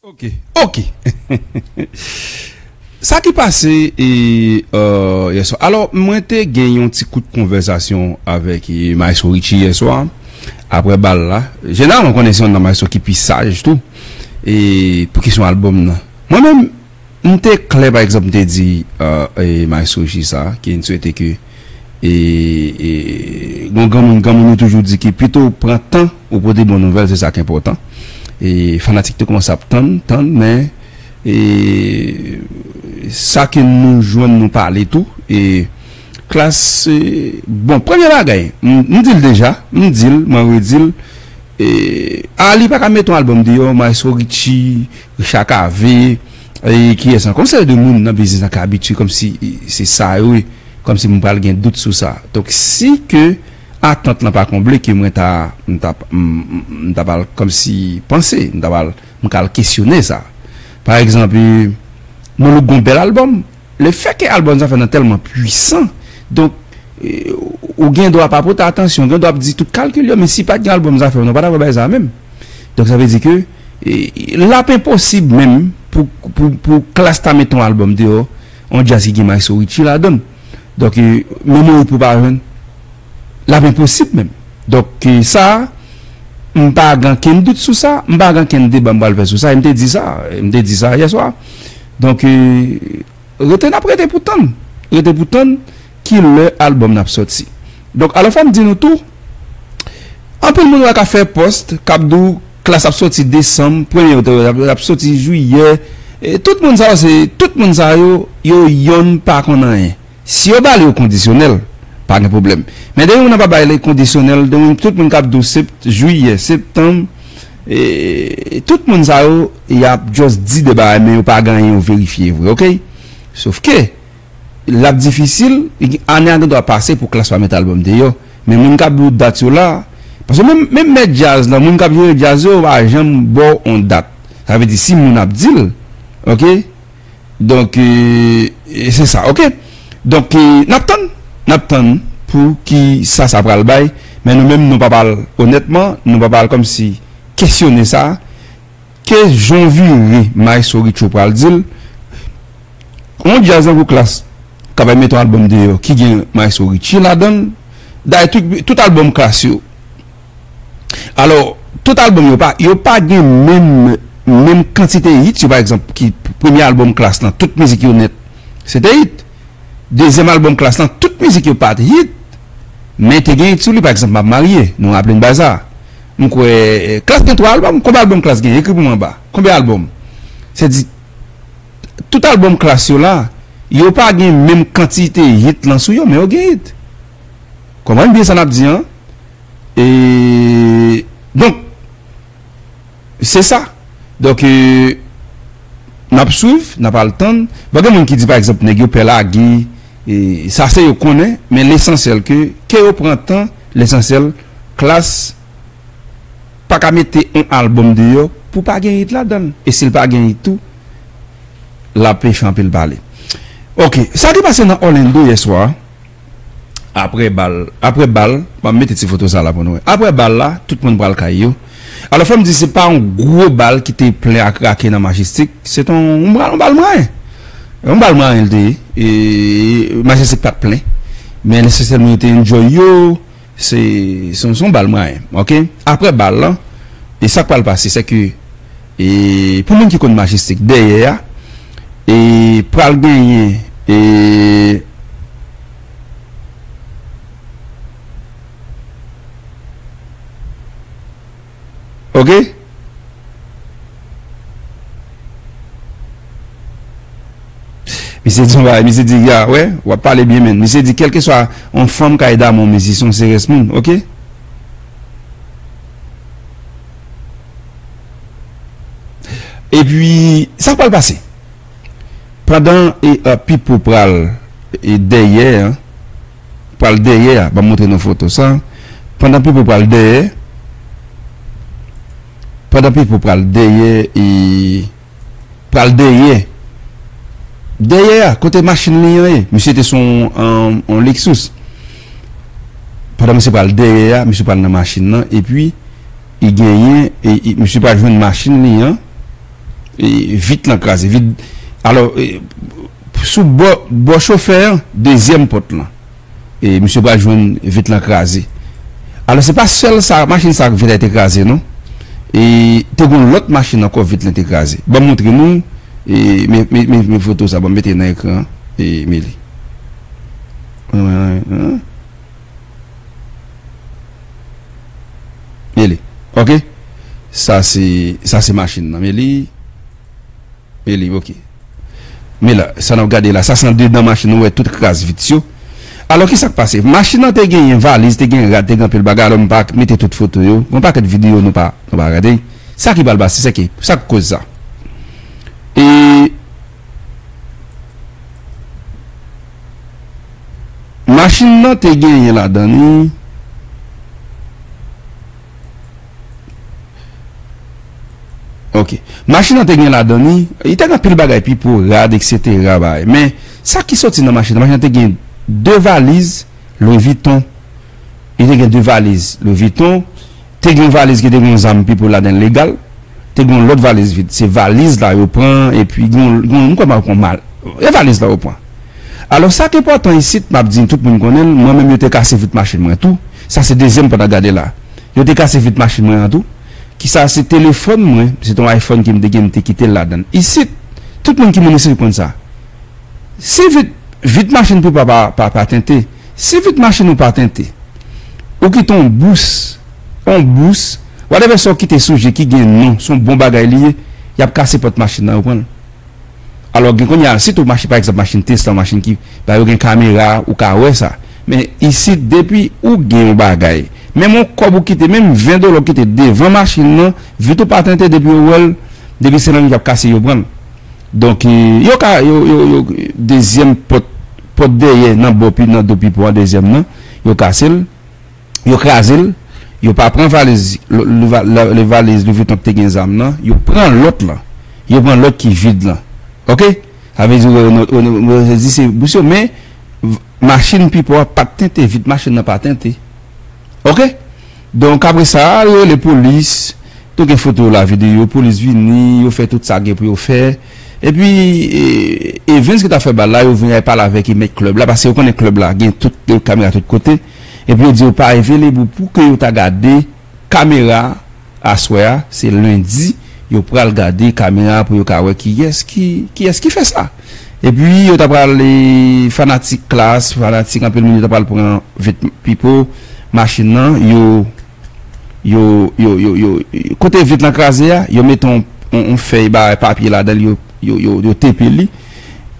Ok ok Sa ki pase yèswa alò mwen te gen yon ti kout konvèsasyon avèk maestro Richie yèswa aprè bal la jeneral mwen konnen se yon nan maestro ki pi saj tou e pou kesyon albòm nan mwen menm m te klè pa egzanp m te di maestro Richie sa ke m swete ke E gon granmoun granmoun yo toujou di ke pito ou pran tan ou pote bon nouvèl se sa k enpòtan. E fanatik te kòmanse ap tann, tann men e sa ke nou jwenn nou pale tou e Klass e bon premye bagay m di l deja m di l mwen redi l e Arly pa ka mete yon albòm deyò Maestro Richie, Richard Cavé. Eee kiyès ankò sè de moun nan biznis lan ka abitye kòmsi se sa yo ye kòmsi m pral gen dout sou sa donk si ke atant lan pa konble ke mwen ta m ta m ta pral kòmsi panse m ta pral m ka al kesyone sa pa egzanp non look gon bèl albòm le fè ke albòm zafèm nan tèlman pwisan donk ou gen dwa pa pote atansyon ou gen dwa ap di tout kalkil yo men si pat gen albòm zafèm nan ou pa ta pral bay sa menm donk sa vle di ke. Lap enposib menm pou klass ta met yon album deyò yon jazz ki gen maestro Richie ladann donk menm yon hit pou pa jwenn lap enposib menm donk sa m pa gan kenn dout sou sa m pa gan kenn deba m pral fè sou sa e m te di sa m te di sa yèswa donk rete nap rete pou tann rete pou tann ki lè album nan ap sòti donk alò fòm di nou tou anpil moun wè kap fè post kap di w. Klas ap soti desanm, premye otòrite ap soti jiyè. Tout moun sa yo se, tout moun sa yo, yo yonn pa konn anyen. Si yo ba li yo kondisyonèl, pa gen pwoblèm. Men depi moun nan pa bay li kondisyonèl, depi moun, tout moun k ap di w sept, jiyè, septanm, tout moun sa yo, y ap just di de bagay men yo pa gen anyen yo verifye vre, ok? Sofke. l ap difisil, ane a gen dwa pase pou Klass pa met albòm deyò, men moun k ap di w dat yo la, paske menm menm mèt djaz lan, moun k ap jere djaz yo, yo pa janm ba w on dat, sa vle di si moun ap di l ok, donk se sa ok, donk n ap tann, n ap tann pou ki sa sa pral bay, men nou menm nou pa pa l onètman, nou pa pa l kòmsi kesyone sa. Ke jon vire maestro Richo pral dil yon jazz nan gwo klass ka bay met yon album deyò ki gen maestro Richie ladanl dayè tout album klass yo alò tout album yo pa yo pa gen menm menm kantite hit yo pa egzanp ki premye album klass lan tout mizik yo nèt se te hit dezyèm album klass lan tout mizik yo pat hit men te gen hit sou li pa egzanp map marye nou raple n bay sa. M kwè Klass gen 3 album? Konbe album Klass gen? Ekri pou mwen anba. Konbe album? Se di tout album Klass yo la, yo pa gen menm kantite hit lan sou yo, men yo gen hit. Konprann byen sa nap di an. E donk se sa. Donk e nap swiv, nap al tann. Bon gen moun ki di pa egzanp nèg yo pè lage, sa se yo konnen, men lesansyèl ke ke yo pran tan, lesansyèl. Klass paka mete on album deyò pou pa gen hit ladanl e sil pa gen hit tou lap fè anpil pale ok sa ki pase nan Orlando yèswa aprè bal aprè bal banm mete ti foto sa la pou nou wè aprè bal la tout moun pral kay yo alò fòm di se pa on gwo bal ki te plen a krake nan Majestic se te on bal mwayen on bal mwayen li te ye e Majestic pat plen men nesesèman yo te enjoy yo. Se son bal mwen an ok. Aprè bal lan e sak pral pase se ke e pou moun ki konn majestic dèyè a e pral genyen e. ok misye di yon bagay misye di ya wè wap pale byen m'en misye di kelke swa yon fanm kay dam yon mezi son se res moun ok. Epi sak pral pase pandan e pipo pral e dèyè an. pral dèyè a banm montre nou foto sa pandan pipo pral dèyè pandan pipo pral dèyè e pral dèyè dèyè a kote machin li an ye misye te son on lexus pandan misye pral dèyè a misye pral nan machin nan epi e genyen e misye pa jwenn machin li an e vit lan kraze vit alò e Sou bò bò chofè an, dezyèm pòt lan. E misye pral jwenn vit lan kraze. Alò se pa sèl sa machin sa ak vit la te kraze non. E te gon lòt machin ankò vit lan te kraze. Banm montre nou e men foto sa banm mete nan ekran an e men li. Men li. Ok. Sa se sa se machin nan men li. Eli, Ok. Men la, sa n ap gade la, sa se andedan machin ou wè tout kras vit yo. Alò ki sa k pase? Machin nan te genyen valiz, te genyen rad, te gen anpil bagay, alò m pa mete tout foto yo. Gen yon pakèt videyo nou pa gade. Sa ki pral pase? Sa ki, sa k koz sa? E. Machin nan te genyen ladan li. Ok. Machin nan te gen ladan li, li te gen anpil bagay, pipo, rad, eksetera bagay. Men, sa ki soti nan machin nan, machin nan te gen 2 valiz Louis Vuitton. Li te gen 2 valiz Louis Vuitton. Te gen yon valiz ki te gen yon zam pipo ladan l legal. Te gen yon lòt valiz vid. Se valiz la yo pran, epi gen yon, m kwè m pa kon mal. E valiz la yo pran. Alò, sa ki enpòtan isit, m ap di tout moun konnen l, mwen menm yo te kase vit machin mwen tou. Sa se dezyèm pòt a gade la. Yo te kase vit machin mwen an tou. Kisa se telefòn mwen, se te yon iPhone ke m te gen m te kite l ladann. Isit, tout moun ki moun isit konn sa. Si vit, vit machin Pipa pa, pa, pa tente. Si vit machin ou pa tente, ou kite yon bous, yon bous, whatever sa w kite sou je ki gen non, se yon bon bagay li ye, y ap kase pòt machin nan, yo pran l. Alò gen kounye a, sitou machin, pa egzanp, machin Tesla, machin ki, ba yo gen kamera, ou ka wè sa. Men isit depi ou gen yon bagay. Menm yon kòb ou kite, menm 20 dola ou kite devan machin nan, vit ou pa tente depi yo wè l, depi se nan li y ap kase yo pran l. Donk yo ka, yo, yo, yo, dezyèm pòt, pòt dèyè nan bò pi, nan do pipo a dezyèm nan, yo kase l, yo kraze l, yo pa pran valiz lò, valiz Louis Vuitton ki te gen zam nan, yo pran lòt lan, yo pran lòt ki vid lan. Ok! Sa vle di yo di se bous yo men machin pipo a pat tente vit machin nan pa tente ok donk apre sa yo rele polis nou gen foto la video polis vini yo fè tout sa gen pou yo fè epi Evens ki ta fè bal la yo vini al pale avèk mèt klèb la paske yo konnen klèb la gen tout kamera tout kote epi yo di yo pa eveleb pou ke yo ta gade kamera. Aswè a se lundi yo pral gade kamera pou yo ka wè kiyès ki kiyès ki fè sa. Epi yo ta pral fanatik klass, fanatik anpil moun yo ta pral pran vèt Pipo, machin nan yo yo yo yo yo kote vit lan kraze a yo mete yon yon fèy bagay papye ladan l yo yo yo tepe li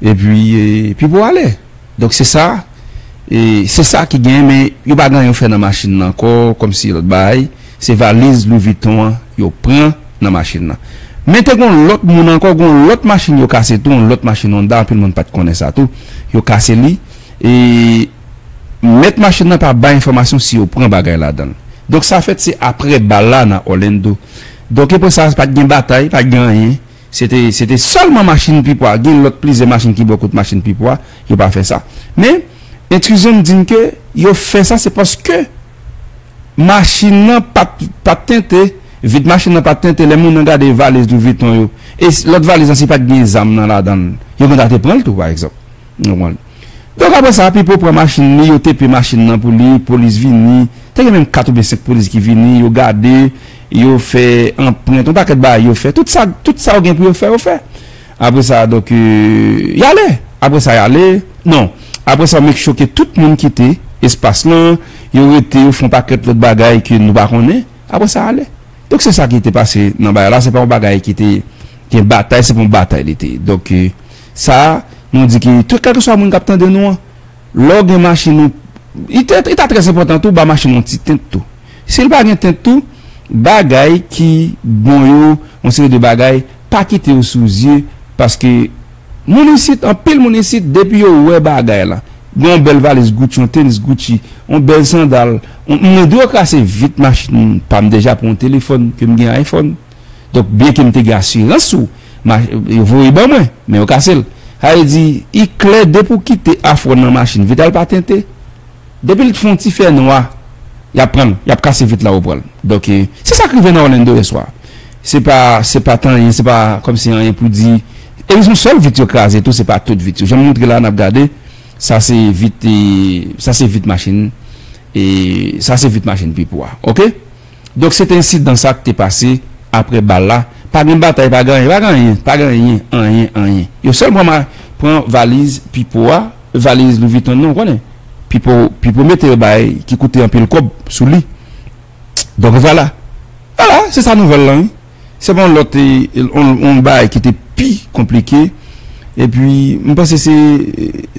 epi Pipo ale. Donk se sa, e se sa ki gen men yo pa gen anyen yo fè nan machin nan ankò kòmsi lòt bagay, se valiz Louis Vuitton an yo pran nan machin nan. Men te gen yon lòt moun ankò, gen yon lòt machin yo kase tou, yon lòt machin Honda, anpil moun pa t konnen sa tou, yo kase li e mèt machin nan pa bay enfòmasyon si yo pran bagay ladan l. Donk sa fèt se aprè bal la nan Orlando. Donk epre sa pa t gen batay, pa t gen anyen, Se te sèlman machin pipo a, gen lòt plizyè machin ki bò kot machin pipo a, yo pa fè sa. Men, entrizyon m di n ke yo fè sa se paske machin nan pa t tente, vit machin nan pa t tente lè moun nan gade valiz Louis Vuitton yo. E lòt valiz lan si pa t gen zam nan ladan l, yo gen dwa te pran l tou pa egzanp. Nou konprann. Donk apre sa, Pipo pran machin li, yo tepe machin nan pou li, polis vini, te gen menm 4 oubyen 5 polis ki vini, yo gade, yo fè anprent, yon pakèt bagay yo fè. Tout sa, tout sa yo gen pou yo fè, yo fè. Apre sa, donk, y ale. Apre sa y ale, non, apre sa yo make sure ke tout moun kite espas lan, yo rete, yo fè yon pakèt lòt bagay ke nou pa konnen, apre sa y ale. Donk se sa ki te pase nan bagay la, se pa yon bagay ki te gen batay, se pa yon batay li te ye. Donk. Sa Nou di ki tout kèlkeswa moun kap tande Nou an lè w gen machin ou li ta trè enpòtan tou ba machin ou yon ti tint tou si l pa gen tint tou bagay ki bon yo yon seri de bagay pa kite yo sou zye paske moun isit anpil moun isit depi yo wè bagay la gen yon bèl valiz Gucci yon tenis Gucci yon bèl sandal mwen dwe krase vit machin pa m deja pou yon telefòn ke m gen iPhone. Donk, byenke m te gen asirans sou ma, yo voye ban mwen, men yo kase l. Sa vle di, i klè depi w kite afwon nan machin, vit la l pa tente. Depi l fon ti fè nwa, y ap pran l, y ap kase vit la ou pran l. Donk, se sa k rive nan Orlando yè swa. Se pa, se pa t anyen, se pa kòmsi anyen pou di. E se yon sèl vit yo kraze tou, se pa tout vit yo. Jan m montre la a n ap gade, sa se vit, sa se vit machin, e sa se vit machin Pipo a. Ok? Donk se te ensidan sa k te pase apre bal la, pa gen batay pa gen anyen, pa gen anyen, pa gen anyen, anyen, anyen. Yo sèl pran pran valiz Pipo a, valiz Louis Vuitton nan, ou konnen. Pipo, Pipo mete yon bagay ki koute anpil kòb sou li. Donk vwala. Vwala, se sa nouvèl lan wi. Se pa yon lòt yon bagay ki te pi konplike epi m panse se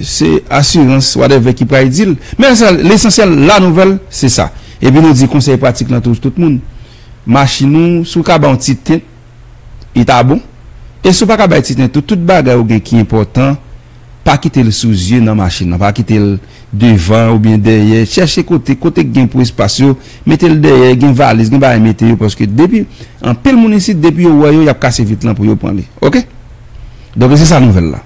se asirans whatever ki pral di l men sa lesansyèl la nouvèl se sa epi nou di konsèy pratik lan tou tout moun machin ou si w ka ba yon ti tint li ta bon e si w pa ka bay ti tint tou tout bagay ou gen ki enpòtan Pa kite l sou zye nan machin nan. Pa kite l devan oubyen dèyè. Chèche kote, kote k gen pou espas yo, mete l dèyè, gen valiz, gen bagay mete yo paske depi, anpil moun isit depi yo wè yo y ap kase vit lan pou yo pran li. Ok? Donk e se sa nouvèl la.